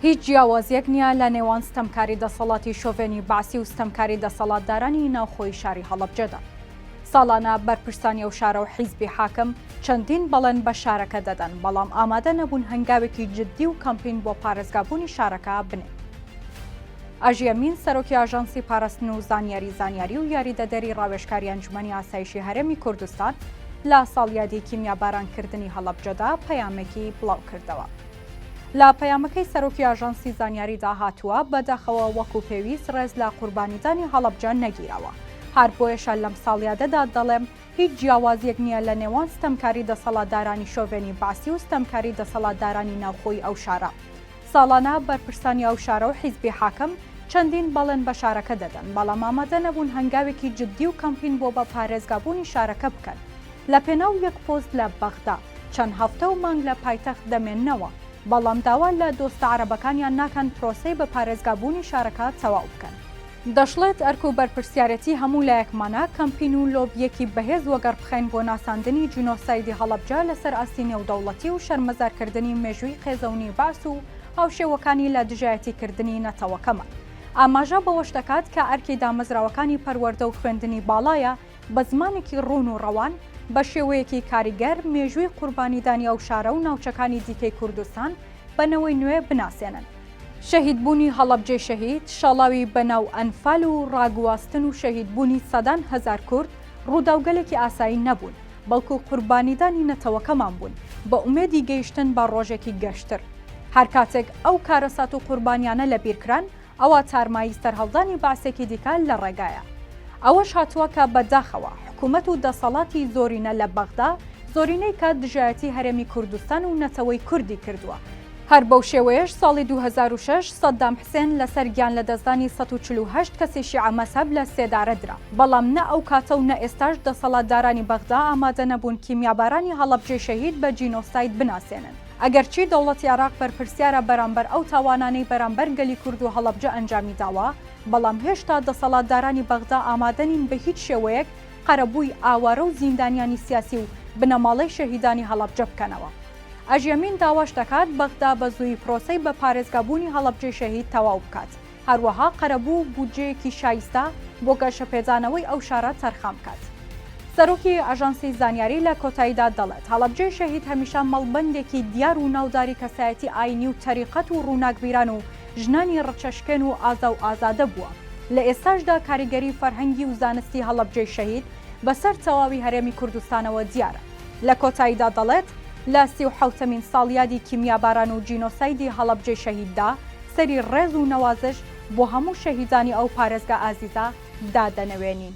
هیچ جیاوازیەک نیە لە نێوان ستەمکاری دەسەڵاتی شۆڤێنی بەعسی و ستەمکاری دەسەڵاتدارانی ناوخۆی شاری هەڵەبجەدا. ساڵانە بەرپرسانی ئەو شارە و حیزبی حاکم چەندین بەڵێن بە شارەکە دەدەن، بەڵام ئامادە نەبوون هەنگاوێکی جددی و کامپین بۆ پارێزگابوونی شارەکە بنێن. ئاژی ئەمین، سەرۆکی ئاژانسی پاراستن و زانیاری زانیاری و یاریدەدەری ڕاوێژکاری ئەنجومەنی ئاسایشی هەرێمی کوردستان لە ساڵیادی کیمیابارانکردنی هەڵەبجەدا پەیامێکی بڵاوکردەوە. لە پەیامەکەی سەرۆکی ئاژانسی زانیاریدا هاتووە، بەداخەوە وەکو پێویست ڕێز لە قوربانیدانی هەڵەبجە نەگیراوە. هەر بۆیەشە لەم ساڵیادەدا دەڵێم، هیچ جیاوازییەک نییە لە نێوان ستەمکاری دەسەڵاتدارانی شۆڤێنی بەعسی و ستەمکاری دەسەڵاتدارانی ناوخۆی ئەو شارە. ساڵانە بەرپرسانی ئەو شارە و حیزبی حاکم چەندین بەڵێن بە شارەکە دەدەن، بەڵام ئامادە نەبوون هەنگاوێکی جددی و کەمپین بۆ بە پارێزگابوونی شارەکە بکەن. لە پێناو یەک پۆست لە بەغدا چەند هەفتە و مانگ لە پایتەخت دەمێننەوە، بەڵام داوا لە دۆستە عەرەبەکانیان ناکەن پرۆسەی بە پارێزگا بوونی شارەکە تەواو بکەن. دەشڵێت، ئەرک و بەرپرسیارێتی هەموو لایەکمانە کەمپین و لۆبییەکی بەهێز وەگەڕ بخەین بۆ ناساندنی جینۆسایدی هەڵەبجە لەسەر ئاستی نێودەوڵەتی و شەرمەزارکردنی مێژووی قێزەونی بەعس و هاوشێوەکانی لە دژایەتیکردنی نەتەوەکەمان. ئاماژە بەوەش دەکات کە ئەرکی دامەزراوەکانی پەروەردە و خوێندنی باڵایە، بە زمانێکی ڕوون و ڕەوان، بە شێوەیەکی کاریگەر مێژووی قوربانیدانی ئەو شارە و ناوچەکانی دیکەی کوردستان بە نەوەی نوێ بناسێنن. شەهیدبوونی هەڵەبجەی شەهید، شاڵاوی بە ناو ئەنفال و ڕاگواستن و شەهیدبوونی سەدان هەزار کورد، ڕووداوگەلێکی ئاسایی نەبوون، بەڵکو قوربانیدانی نەتەوەکەمان بوون، بە ئومێدی گەیشتن بە ڕۆژێکی گەشتر. هەرکاتێک ئەو کارەسات و قوربانیانە لەبیرکران، ئەوا تارمایی سەرهەڵدانی بەعسێکی دیکە لە ڕێگایە. ئەوەش هاتووە کە بە داخەوە حکوومەت و دەسەڵاتی زۆرینە لە بەغدا، زۆرینەی کە دژایەتی هەرێمی کوردستان و نەتەوەی کوردی کردووە، هەر بەو شێوەیەش ساڵی دوو هەزار و شەش سەددام حسێن لە سەر گیان لە دەستدانی سەد و چل و هەشت کەسی شیعە مەزهەب لە سێدارە درا، بەڵام نە ئەو کاتە و نە ئێستاش دەسەڵاتدارانی بەغدا ئامادە نەبوون کیمیابارانی هەڵەبجەی شەهید بە جینۆساید بناسێنن. ئەگەرچی دەوڵەتی عێراق بەرپرسیارە بەرامبەر ئەو تاوانانەی بەرامبەر گەلی کورد و هەڵەبجە ئەنجامی داوە، بەڵام هێشتا دەسەڵاتدارانی بەغدا ئامادە نین بە هیچ شێوەیەک قەرەبووی ئاوارە و زیندانیانی سیاسی و بنەماڵەی شەهیدانی هەڵەبجە بکەنەوە. ئەژەمین داواش دەکات بەغدا بە زوویی پرۆسەی بە پارێزگابوونی هەڵەبجەی شەهید تەواو بکات. هەروەها قەرەبوو بودجەیەکی شایستە بۆ گەشەپێدانەوەی ئەو شارە تەرخان بکات. سەرۆکی ئاژانسی زانیاری لە کۆتاییدا دەڵێت، هەڵەبجەی شەهید هەمیشە مەڵبەندێکی دیار و ناوداری کەسایەتی ئایینی و تەریقەت و ڕووناکبیران و ژنانی ڕچەشکێن و ئازا و ئازادە بووە، لە ئێستاشدا کاریگەری فەرهەنگی و زانستی هەڵەبجەی شەهید بەسەر تەواوی هەرێمی کوردستانەوە دیارە. لە کۆتاییدا دەڵێت، لە سی و حەوتەمین ساڵیادی کیمیاباران و جینۆسایدی هەڵەبجەی شەهیددا، سەری ڕێز و نەوازش بۆ هەموو شەهیدانی ئەو پارێزگا ئازیزە دادەنەوێنین.